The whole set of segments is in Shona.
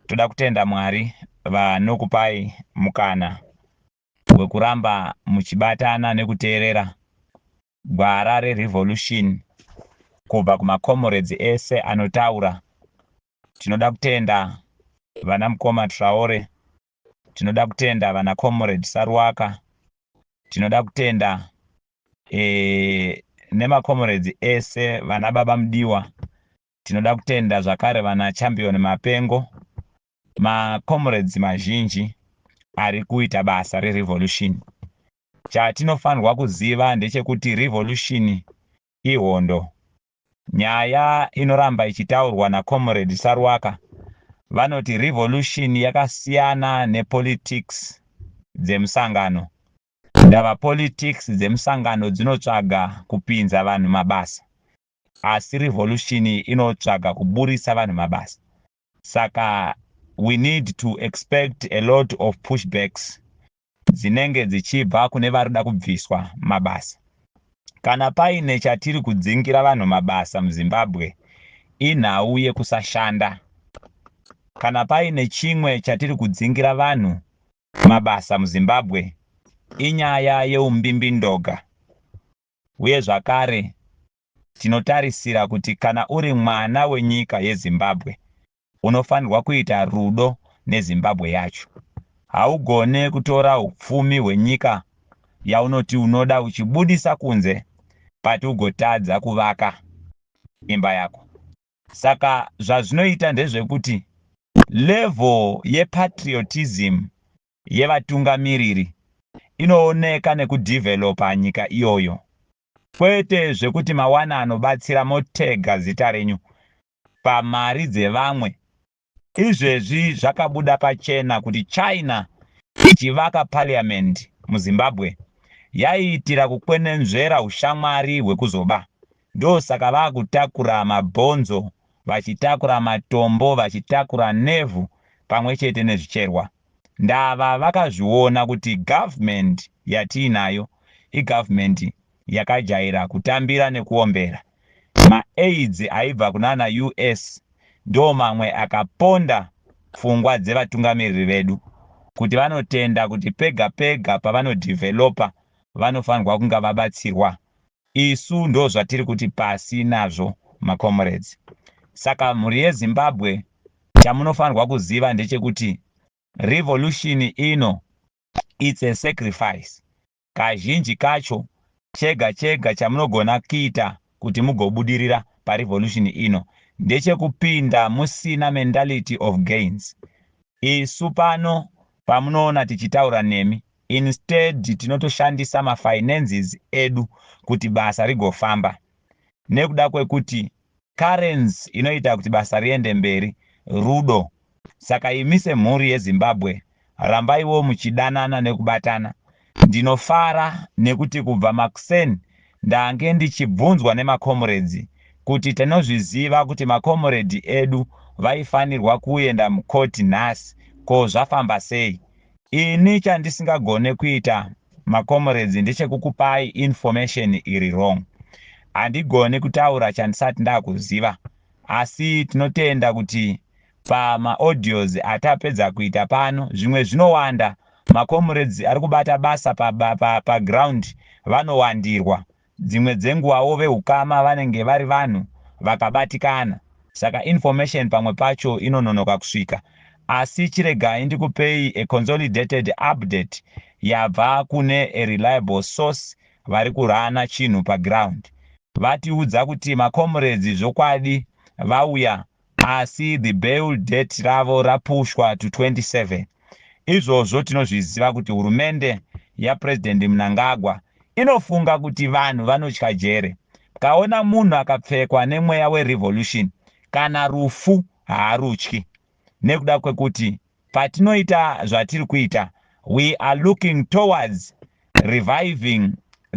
Toda kutenda Mwari vanokupai mukana wekuramba muchibatana nekuteerera gwara reRevolution kubva kumaComrades ese anotaura. Tinoda kutenda vanamukoma Traore tinoda kutenda vana comrade saruwaka tinoda kutenda e, nemacomrades ese vana baba mudiwa tinoda kutenda zvakare vana champion mapengo macomrades mazhinji ari kuita basa rerevolution chatinofanirwa kuziva ndechekuti revolution ihondo Nyaya inoramba ichitaurwa naComrade Saruwaka vanoti revolution yakasiyana nepolitics dzemusangano. Ndava politics dzemusangano dzinotsvaga kupinza vanhu mabasa asi revolution inotsvaga kuburitsa vanhu mabasa. Saka we need to expect a lot of pushbacks dzinenge dzichibva kune vari kuda kubviswa mabasa. Kana paine chatiri kudzingira vanhu mabasa muZimbabwe inhau yekusashanda. Kana paine chimwe chatiri kudzingira vanhu mabasa muZimbabwe inyaya yeumbimbindoga uye zvakare Tinotarisira kuti kana uri mwana wenyika yeZimbabwe, unofanirwa kuita rudo neZimbabwe yacho. Haugone kutora hupfumi hwenyika yaunoti unoda uchibudisa kunze but ugotadza kuvaka imba yako. Saka zvazvinoita ndezvekuti level yepatriotism yevatungamiriri inooneka nekudeveloper nyika iyoyo Kwete zvekuti mawana anobatsira motega zita renyu pamari dzevamwe. Izvezvi zvakabuda pachena kuti China ichivaka parliament muZimbabwe yaiitira kukwenenzvera hushamwari hwekuzoba. Ndosaka vakutakura mabhonzo, vachitakura matombo, vachitakura nevhu pamwe chete nezvicherwa. Ndava vakazviona kuti government yatiinayo i government yakajaira kutambira nekuombera. Ma aids aibva kunana US ndomamwe akaponda pfungwa dzevatungamiriri vedu kuti vanotenda kuti pega pega pavano developer vanofanirwa kunga vabatsirwa Isu ndozvatiri kuti pasi nazvo ma comrades. Saka mhuri ye Zimbabwe chamunofanirwa kuziva ndechekuti revolution ino it's a sacrifice. Kazhinji kacho chega chega chamunogona kuita kuti mugobudirira pa revolution ino ndechekupinda musina mentality of gains. Isu pano pamunoona tichitaura nemi Instead tinotoshandisa ma finances edu kuti basa rigofamba nekuda kwekuti currency inoita kuti basa riende mberi rudo. Saka imi semhuri yeZimbabwe rambaiwo muchidanana nekubatana. Ndinofara nekuti kubva makuseni ndange ndichibvunzwa nema comrades kuti tinozviziva kuti ma comrade edu vaifanirwa kuenda mucourt nhasi ko zvafamba sei? Ini chandisingagone kuita maComrades ndechekukupai information iri wrong. Handigoni kutaura chandisati ndakuziva asi tinotenda kuti pamaaudios atapedza kuita pano zvimwe zvinowanda. MaComrades arikubata basa paground vanowandirwa Dzimwe dzenguwawo vehukama vanenge vari vanhu vakabatikana saka information pamwe pacho inononoka kusvika asi chiregai ndikupei a consolidated update yabva kune a reliable source vari kurana chinhu paground vatiudza kuti maComrades zvokwadi vauya asi the bail date ravo rapushwa to 27. Izvozvo tinozviziva kuti hurumende yaPresident Mnangagwa inofunga kuti vanhu vanotya jere. Mkaona munhu akapfekwa nemweya werevolution kana rufu haarutyi nekuda kwekuti patinoita zvatiri kuita we are looking towards reviving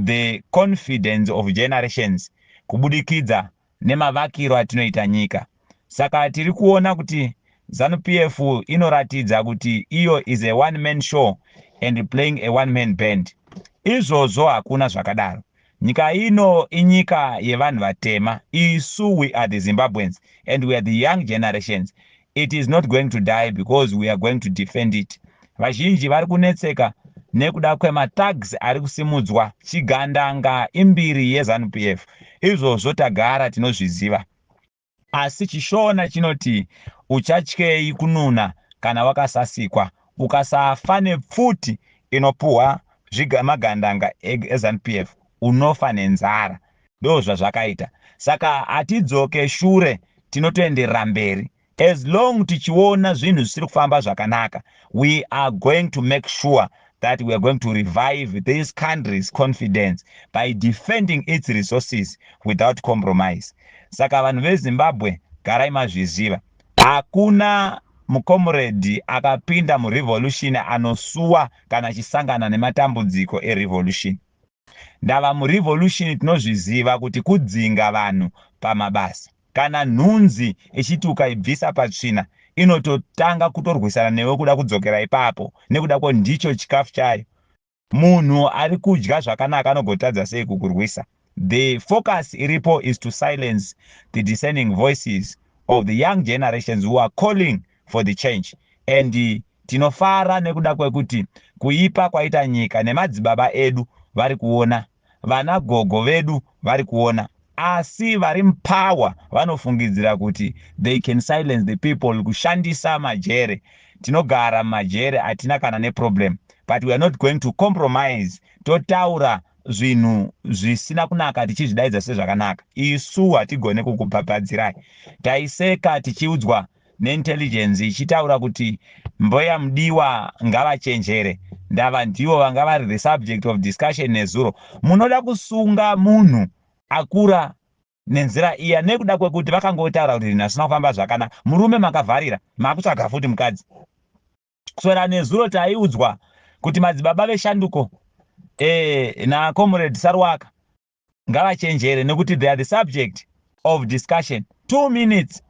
the confidence of generations kubudikidza nemavakiro atinoita nyika. Saka tiri kuona kuti Zanu PF inoratidza kuti iyo is a one man show and playing a one man band. Izvozvo hakuna zvakadaro. Nyika ino inyika yevanhu vatema. Isu we are the Zimbabweans and we are the young generations. it is not going to die because we are going to defend it vazhinji vari kunetseka nekuda kwematags ari kusimudzwa chigandanga imbiri yezanup f izvozvo tagara tinozviziva asi chishona chinoti uchatyei kununa kana wakasasikwa ukasafa nepfuti inopuhwa magandanga ezanup f unofa nenzara ndozvazvakaita saka hatidzoke shure tinotoenderera mberi as long tichiona zvinhu zvisiri kufamba zvakanaka we are going to make sure that we are going to revive this country's confidence by defending its resources without compromise saka vanhu vezimbabwe garai mazviziva hakuna mukomuredhi akapinda murevolution anosuwa kana achisangana nematambudziko erevolution Ndava muRevolution tinozviziva kuti kudzinga vanhu pamabasa. Kana nhunzi ichiti ukaibvisa patsvina inototanga kutorwisana newe kuda kudzokera ipapo nekuda ko ndicho chikafu chayo. Munhu ari kudya zvakanaka anogotadza sei kukurwisa? The focus iripo is to silence the discerning voices of the young generations who are calling for the change and Tinofara nekuda kwekuti kuipa kwaita nyika nemadzibaba edu vari kuona, vana gogo vedu vari kuona asi vari mupower vanofungidzira kuti they can silence the people kushandisa majere. Tinogara mumajere hatina kana neproblem but we are not going to compromise totaura zvinhu zvisina kunaka tichizvidaidza sezvakanaka. Isu hatigone kukubhabhadzirai. Taiseka tichiudzwa neintelligence ichitaura kuti mbuya mudiwa ngavachenjere ndava ndivo vanga vari the subject of discussion nezuro munoda kusunga munhu akura nenzira iya nekuda kwekuti vakangotaura kuti zvinhu asina kufamba zvakana murume makavharira makutsvaga futi mukadzi kuswera nezuro taiudzwa kuti madzibaba veshanduko e, eh, nakomred sarwaka ngavachenjere nekuti they are the subject of discussion two minutes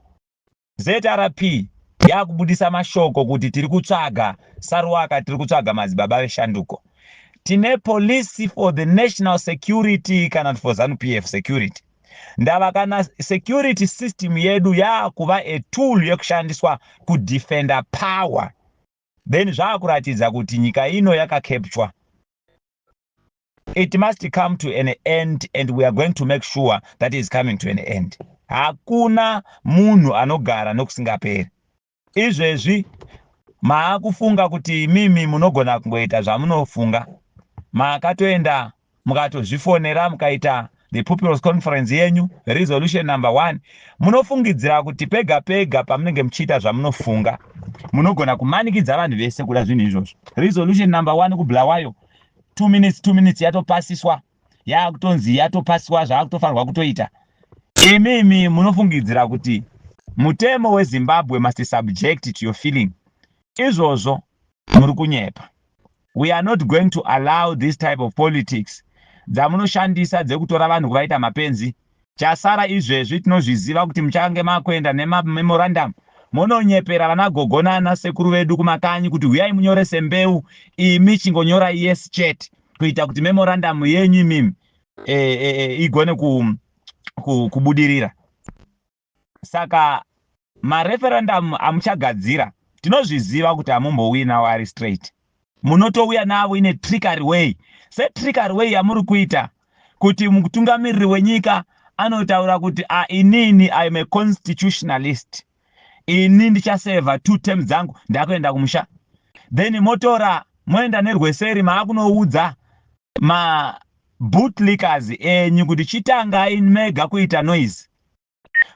zrp yakubudisa mashoko kuti tiri kutsvaga saruwaka tiri kutsvaga madzibaba veshanduko tine police for the national security kana for zanupf e security ndava kana security system yedu yaakuva a tool yekushandiswa kudefender power then zvaakuratidza kuti nyika ino yakakepchwa it must come to an end and we are going to make sure that is coming to an end hakuna munhu anogara nokusingaperi izvezvi maakufunga kuti imimi munogona kungoita zvamunofunga maakatoenda mukatozvifonera mukaita the pupils conference yenyu resolution number one munofungidzira kuti pega pega pamunenge muchiita zvamunofunga munogona kumanikidza vanhu vese kuda zvinhu izvozvo resolution number one kubulawayo two minutes two minutes yatopasiswa yaakutonzi yatopasiswa zvaakutofanirwa kutoita imi imi munofungidzira kuti mutemo wezimbabwe must subject to your feeling izvozvo muri kunyepa we are not going to allow this type of politics dzamunoshandisa dzekutora vanhu kuvaita mapenzi chasara izvezvi tinozviziva kuti muchange makuenda nemamemorandum mononyepera vana gogo nana sekuru vedu kumakanyi kuti huyai munyorese mbeu imi chingonyorai yes chete kuita kuti memorandum yenyu imimi e, e, e, igone ku, ku, kubudirira saka mareferendum amuchagadzira tinozviziva kuti hamumbowina wari straight munotouya navo ine trickery way setrickery way yamuri kuita kuti mutungamiriri wenyika anotaura kuti a ah, inini iam a constitutionalist ini ndichaseva two term dzangu ndakuenda kumusha then motora moenda nerweseri maakunoudza mabootlickers enyu kuti chitangai mega kuita noise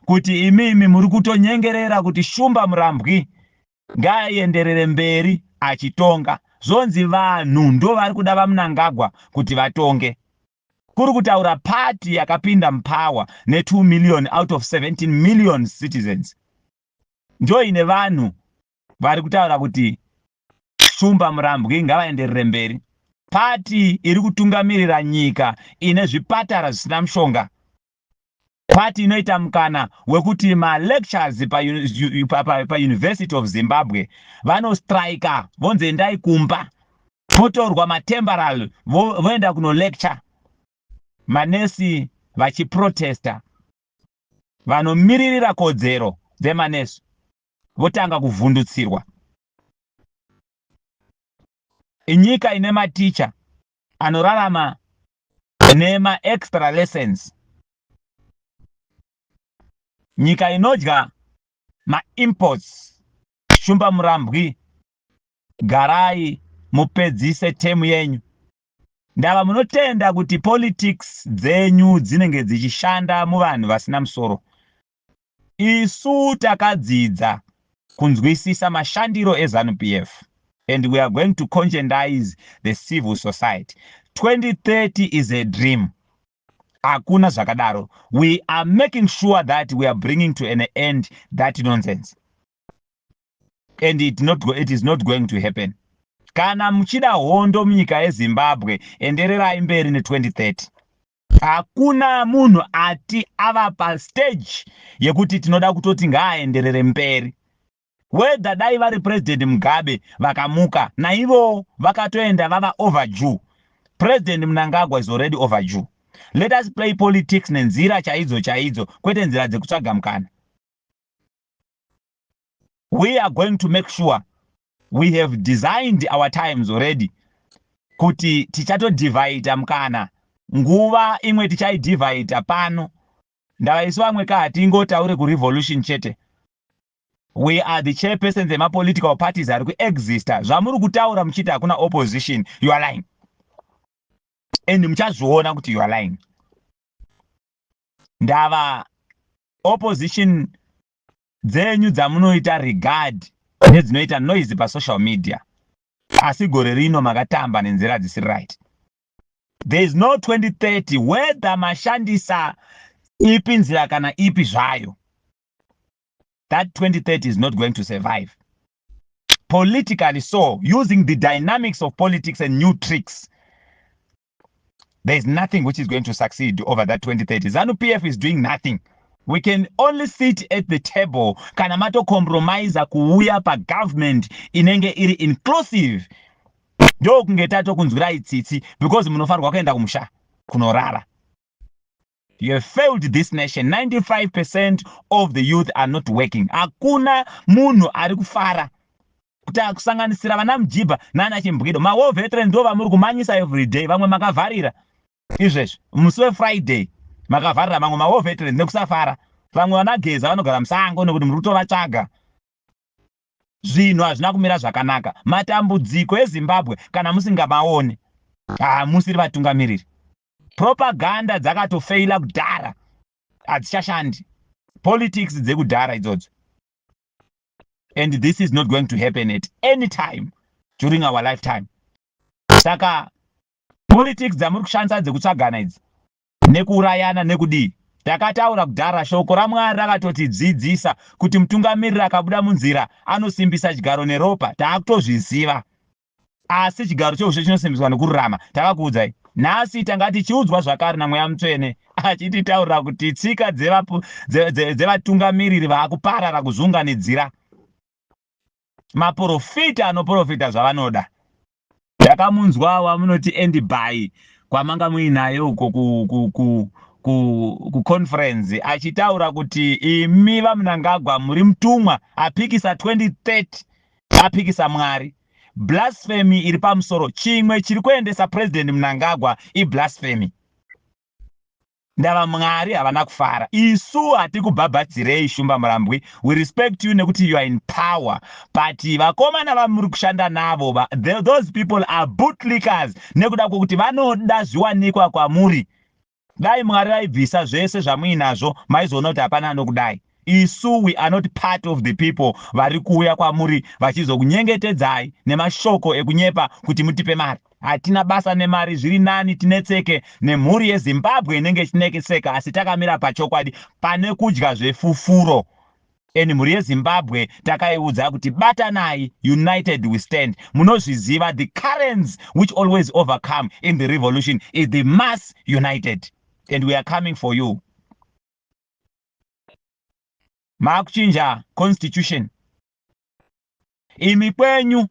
kuti imimi muri kutonyengerera kuti Shumba Murambwi ngaaenderere mberi achitonga zvonzi vanhu ndovari kuda vamunangagwa kuti vatonge kuri kutaura party yakapinda mupower ne2 million out of 17 million citizens ndoine vanhu vari kutaura kuti shumba murambwi ngavaenderere mberi party iri kutungamirira nyika ine zvipatara zvisina mushonga Kwati inoita mukana wekuti malectures paUniversity pa, pa, pa of Zimbabwe vanostrika vonzi endai kumba potorwa matemporal voenda vo kunolecture manesi vachiprotesta vanomiririra kodzero dzemanesi votanga kuvhundutsirwa inyika ine maticha anorarama nema extra lessons nyika inodya ma imports shumba murambwi garai mupedzise temu yenyu ndava munotenda kuti politics dzenyu dzinenge dzichishanda muvanhu vasina musoro Isu takadzidza kunzwisisa mashandiro eZanu PF and we are going to conscientize the civil society. 2030 is a dream. Hakuna zvakadaro. We are making sure that we are bringing to an end that nonsense. And it, not go, it is not going to happen. Kana muchida hondo munyika yeZimbabwe, endererai mberi ne 2030. Hakuna munhu ati ava pastage yekuti tinoda kutoti ngaaenderere mberi. Whether dai vari President Mugabe vakamuka naivowo vakatoenda vava overdue. President Mnangagwa is already overdue. Let us play politics nenzira chaidzo chaidzo kwete nzira dzekutsvaga mukana. we are going to make sure we have designed our times already kuti tichatodhivhaita mukana nguva imwe tichaidhivhaita pano ndava isu vamwe ka hatingotaure kurevolution chete we are the chairperson dzemapolitical parties ari kuexista zvamuri kutaura muchiti hakuna opposition you are lying and muchazviona kuti you are lying ndava opposition dzenyu dzamunoita regard nedzinoita noise pasocial media asi gore rino makatamba nenzira dzisiri right there is no 2030 whether mashandisa ipi nzira kana ipi zvayo that 2030 is not going to survive politically so using the dynamics of politics and new tricks there is nothing which is going to succeed over that 2030 zanu pf is doing nothing we can only sit at the table kana matocompromise kuuya pagovernment inenge iri inclusive ndokunge tatokunzwirai tsitsi because munofanirwa kuenda kumusha kunorara You have failed this nation 95% of the youth are not working hakuna munhu ari kufara kuti akusanganisira vana mujibha nana chimbwido mawar veteran ndo vamuri kumanyisa everyday vamwe makavharira izvezvi musi wefriday makavharira mamwe mawar veteran nekusafara vamwe vanageza vanogara musango nekuti muri kutovatsvaga zvinhu hazvina kumira zvakanaka matambudziko ezimbabwe kana musingamaone hamusiri vatungamiriri propaganda dzakatofeila kudhara hadzichashandi politics dzekudhara idzodzo and this is not going to happen at any time during our lifetime saka politics dzamuri kushandisa dzekutsvagana idzi nekuurayana nekudii takataura kudhara shoko ramwari rakatotidzidzisa kuti mutungamiriri akabuda munzira anosimbisa chigaro neropa taakutozviziva Asi chigaro cheushe chinosimbiswa nokururama. Takakuudzai. Nhasi tanga tichiudzwa zvakare naMweya Mutsvene achititaurira kuti tsika dzevatungamiriri vakuparara kuzviunganidzira maporofita anoporofita zvavanoda. Ndakamunzwa wamunoti Andy Bhayi kwamanga muinaye uko kuconference achitaura kuti imi vaMnangagwa muri mutumwa apikisa 2030 apikisa Mwari. Blasphemy iri pamusoro. Chimwe chiri kuendesa President Mnangagwa i blasphemy. Ndava Mwari havana kufara. Isu hatikubhabhadzirei Shumba Murambwi. We respect you nekuti you are in power. But vakomana vamuri kushanda navo va, those people are bootlickers nekuda kwokuti vanoda zviwanikwa kwamuri. Dai Mwari vaibvisa zvese zvamuinazvo maizoona kuti hapana anokudai. Isu we are not part of the people vari kuuya kwamuri vachizokunyengetedzai nemashoko ekunyepa kuti mutipe mari. Hatina basa nemari zviri nani tinetseke nemhuri yeZimbabwe inenge ichinekeseka asi takamira pachokwadi pane kudya zvefufuro and mhuri yezimbabwe takaiudza kuti batanai united we stand munozviziva the currents which always overcome in the revolution is the mass united and we are coming for you maakuchinja constitution imi kwenyu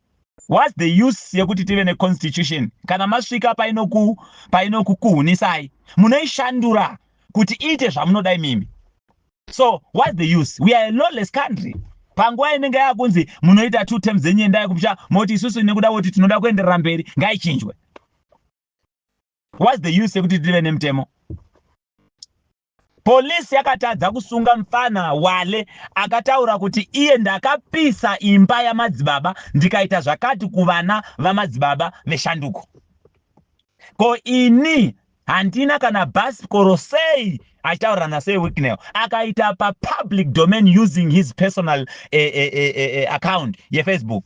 whats the use yekuti tive neconstitution kana masvika painokukuhunisai munoishandura kuti iite zvamunoda imimi so whats the use we are a lawless country panguva inenge yakunzi munoita two terms dzenyu endai kupsha moti isusu nekuda kuti tinoda kuenderera mberi ngaichinjwe whats the use yekuti tive nemutemo Police yakatadza kusunga mfana Wale akataura kuti iye ndakapisa imba yamadzibaba ndikaita zvakati kuvana vamadzibaba veshanduko. Ko ini handina kana bus koro sei achitaurira naSir Wicknell akaita papublic domain using his personal eh, eh, eh, eh, eh account yeFacebook.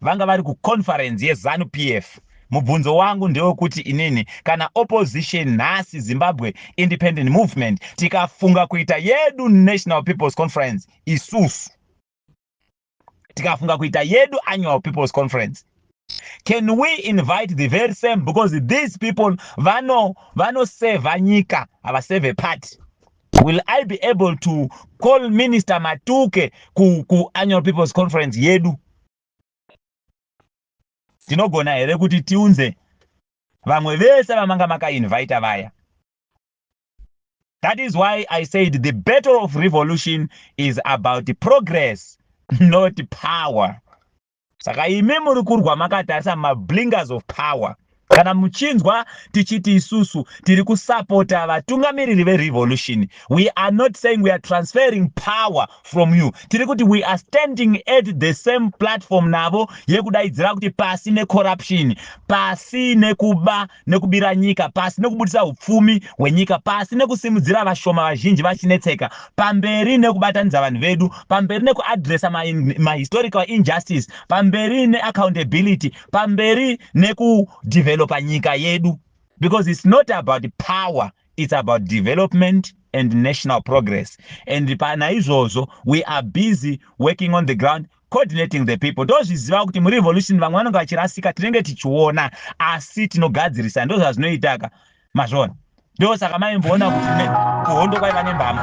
Vanga vari ku conference ye Zanu PF. Mubvunzo wangu ndewekuti inini kana opposition nhasi Zimbabwe Independent Movement tikafunga kuita yedu National People's Conference isusu tikafunga kuita yedu Annual People's Conference can we invite the very same because these people vano vanosevha nyika havasevhe party Will I be able to call Minister Matuke ku, ku annual people's conference yedu? Tinogona here kuti tiunze vamwe vese vamanga makainvita vaya? That is why I said the battle of revolution is about progress, not power. saka imi muri kurwa makatarisa mablingers of power kana muchinzwa tichiti isusu tiri kusapota vatungamiriri verevolution we are not saying we are transferring power from you tiri kuti we are standing at the same platform navo yekudaidzira kuti pasi necorruption pasi nekuba nekubira nyika pasi nekubudisa upfumi hwenyika pasi nekusimudzira vashoma vazhinji vachinetseka pamberi nekubatanidza vanhu vedu pamberi nekuadresa mahistorical ma injustice pamberi neaccountability pamberi nekudevelopa nyika yedu because it's not about power it's about development and national progress and panaizvozvo we are busy working on the ground coordinating the people tozviziva kuti murevolution vamwe vanenge vachirasika tinenge tichiona asi tinogadzirisa ndozvazvinoitaka mazvona ndo saka maimboona kuti kuhondo kwaiva nembama